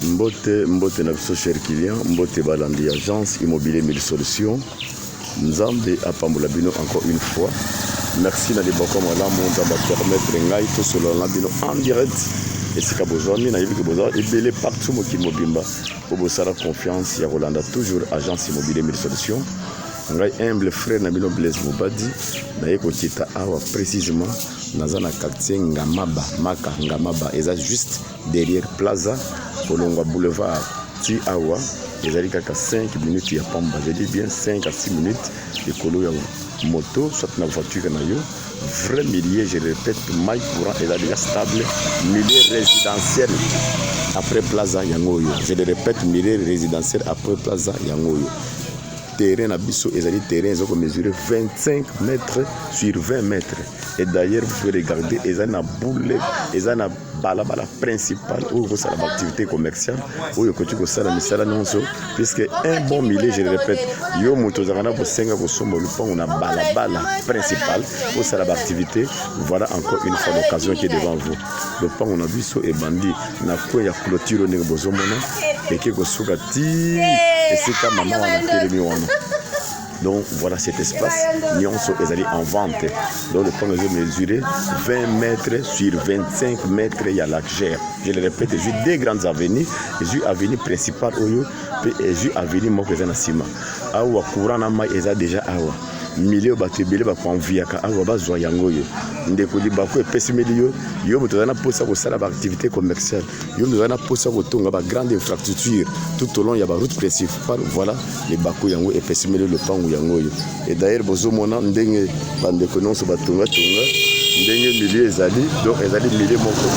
mbote mbote na biso cher client mbote balandi agence immobilier mille solution nzambe apambola bino encore une fois merci na liboko malamu nzambe apermettre ngai tosolola na bino en direct esika bozwami nayebi ke boza ebele partout mokili mobimba bobosana confiance ya kolanda toujours agence immobilier mille solution ngai humble frère na bino blaise mobadi naye kokita awa précisément naza na quartier ngamaba maka ngamaba eza juste derrière plaza kolongwa boulevard ti awa ezali kaka 5 minutes ya pamba je dis bien 5 à 6 minutes likolo ya moto soit na voiture na yo vrai milieu je répète mai courant eza déjà stable milieu résidentiel après plaza yango oyo je le répète milieu résidentiel après plaza yango oyo terrain na biso ezali terrain eza komesurer 25 mètres sur 20 mètres et d'ailleurs vous pouvez regarder eza na boule eza na balabala principal oyo kosala baactivité commerciale oyo ekoki kosala misala nyonso puisque un bon milieu je le répète yo moto ozalaka na bosenga kosomba lupango na balabala principal kosala baactivité voilà encore une fois l'occasion qui est devant vous lopango na biso ebandi na coin ya clôture oyo ndenge bozomona eke kosuka ti esika mama wana atelemi wana Donc voilà cet espace, Nyonso ezali en vente. Donc le premier je mesuré 20 mètres sur 25 mètres ya largeur. Je le répète, j'ai deux grandes avenues, j'ai avenue principale oyo pe j'ai avenue moko eza na sima. Awa courant na mai eza déjà awa. milieu bato ebele bakoanvuyaka awa bazwa yango oyo ndeko libaku epesimeli yo yo moto oza na mposa kosala baaktivité commerciale yo mizali na mposa ya kotonga ba grande infrastructure tout au long ya ba route principale voilà libaku yango epesimeli lopango yango oyo et d'ailleurs bozomona ndenge bandeko nyonso batongatonga ndenge milieu ezali donc ezali milieu moko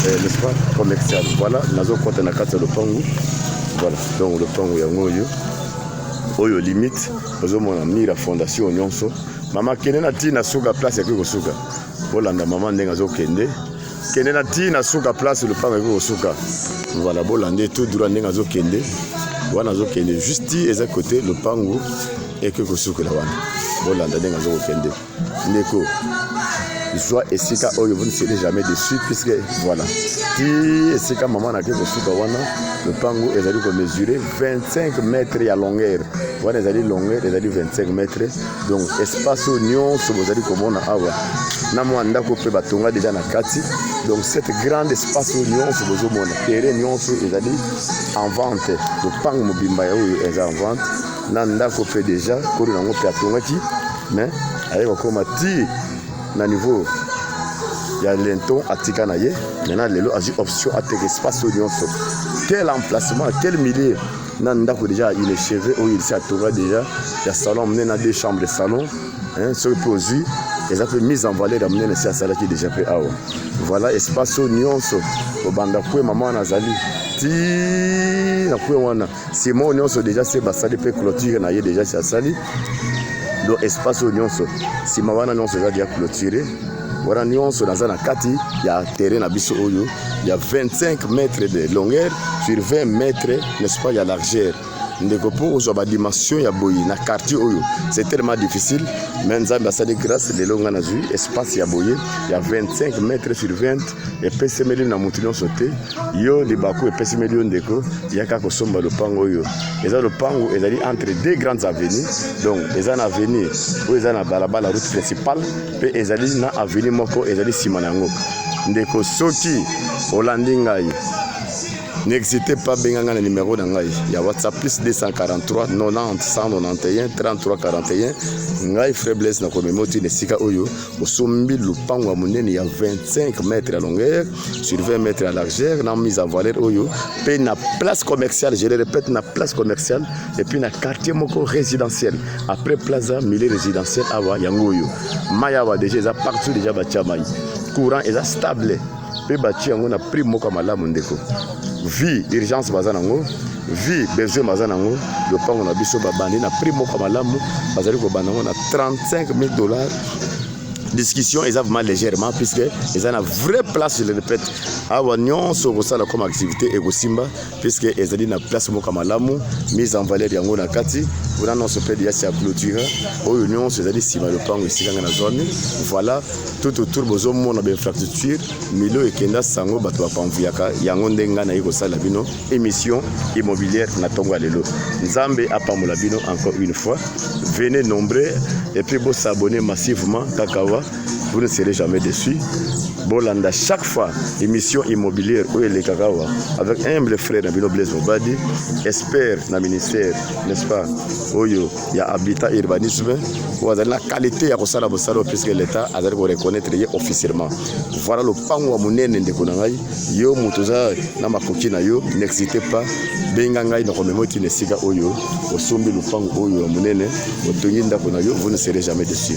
eh, n'est-ce pas commercial voilà nazokota na kati ya lopango voilà donc lopango yango oyo oyo limite ozomona mira fondation nyonso mama kende na ntina suka place yakoki kosuka Bolanda mama ndenge azokende kende na ti na suka place lopango ekoki kosuka voilà bolande tout droit ndenge azokende wana azokende juste ti eza kote lopango ekoki kosukela wana bolanda ndenge azokokende ndeko zwa esika oyo vous ne serez jamais dessus puisque voilà ti esika mama nake kosuka wana lopango ezali komesure 25 mètre ya longueur wana ezali longueur ezali 25 mètre donc espace oyo nyonso bozali komona awa na mwa ndako mpe batonga deja na kati donc cette grande espace oyo nyonso bozomona terrain nyonso ezali en vente lopango mobimba ya oyo eza en vente na ndako mpe deja kolo nango mpe atongaki mais aye kokoma ti na niveau ya lenton atika na ye maintenant lelo azwi option ateka espace oyo nyonso quel emplacement quel milieu na ndako deja il est cheve oyo il se atonga deja ya salon monene na deux chambre salon soki mpe ozwi eza mpe mise en valeur ya monene si asalaki deja mpe awa voilà espace oyo nyonso obanda kue mama wana azali ti na kue wana sima oyo nyonso deja se basali mpe clôture na ye deja si asali donc espace oyo nyonso nsima wana nyonso eza deja clôture wana nyonso naza na kati ya terrain na biso oyo ya 25 mètre de longueur sur 20 mètre n'est-ce pas ya largeur ndeko mpo ozwa badimension ya boye na quartier oyo c'est tellement difficile me nzambe asali grâce lelo ngai nazwi espace ya boye ya 25 mètre sur 20 epesemeli na moto nyonso te yo libaku epesemeli yo ndeko yaka kosomba lopango oyo eza lopango ezali entre deux grandes avenues donc eza na avenue oyo eza na balabala route principale mpe ezali na aveni moko ezali nsima na yango ndeko soki olandi ngai n'existe pas benga ngai na numero na ngai ya whatsapp plus 243 90 191 33 41 ngai frère blaise na komemoti na esika oyo osombi lopango ya monene ya 25 mètre ya longueur sur 20 mètre ya largeur na mise en valeur oyo mpe na place commerciale je le répète na place commerciale epuis na quartier moko résidentiel après plaza milieu résidentiel awa yango oyo mai awa déjà eza partout déjà batya mai courant eza stable mpe batye yango na prix moko ya malamu ndeko vie urgence baza nango vie besoin baza nango lopango na biso babandi na prix moko ya malamu bazali kobanda yango na 35 000 dollars discussion eza vraiment légèrement puisque eza na vraie place je le répète awa nyonso okosala comme activité ekosimba puisque ezali na place moko malamu mise en valeur yango na kati wana nyonso mpe liasi ya clôture oyo nyonso ezali nsima ya lopango esika ngai nazwami voilà tout autour bozomona bainfrastructure milio ekenda sango bato bapamvuyaka yango nde ngai naye kosala bino émission immobilière na ntongo ya lelo nzambe apambola bino encore une fois venez nombreux et puis bosabone massivement kaka wa vous ne serez jamais déçu bolanda chaque fois émission immobilière oyo elekaka awa avec humble frère na bino blaise mobadi expert na ministère n'est-ce pas oyo ya habitat urbanisme oyo azali na qualité ya kosala mosala oyo puisque l'état azali koreconnaitre ye officiellement voilà lopango ya monene ndeko na ngai yo moto oza na makoki na yo n'existe pas benga ngai nakomema oti na esika oyo osombi lopango oyo ya monene otongi ndako na yo vous ne serez jamais dessus